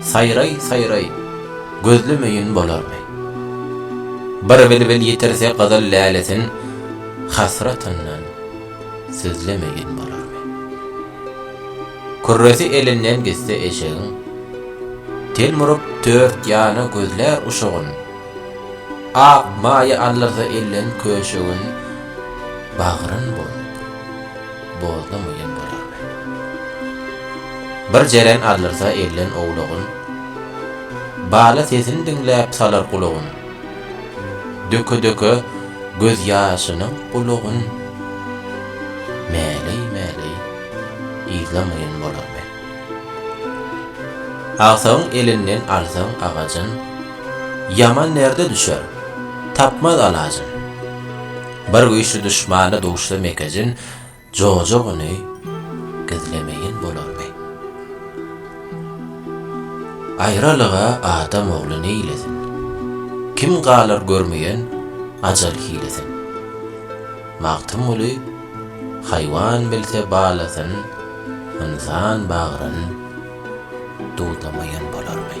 Saýraý, saýraý, gözlemeýin bolarmy? Bir bilbil ýitirse gyzyl lälesin, Hasratyndan sözlemeýin bolarmy? Kürresi elinden gitse eşegiň, Telmuryp dört ýana gözlär uşagyn, Ak maýa aldyrsa elden köşegin, Bagryn bolup. Bozdum iýen bolarmy? Bir jeren aldyrsa elden owlagyn, Bala sesin diňläp salar gulagyn, Döke-döke gözýaşynyň gulagyn, Mäleý-mäleý yzlamaýan bolarmy? Agsagyň elinden alsaň agajyn, Ýaman derde düşer, tapmaz alajyn. Bir güýçli duşmana duşsam ekejin, jojugyny gizlemeýin bolarmy? Aýralyga adam ogly neýlesin? Kim galar görmeýän ajal hilesin? Magtymguly Haýwan bilse balasyn, ynsan bagryn dudamaýyn bolarmy?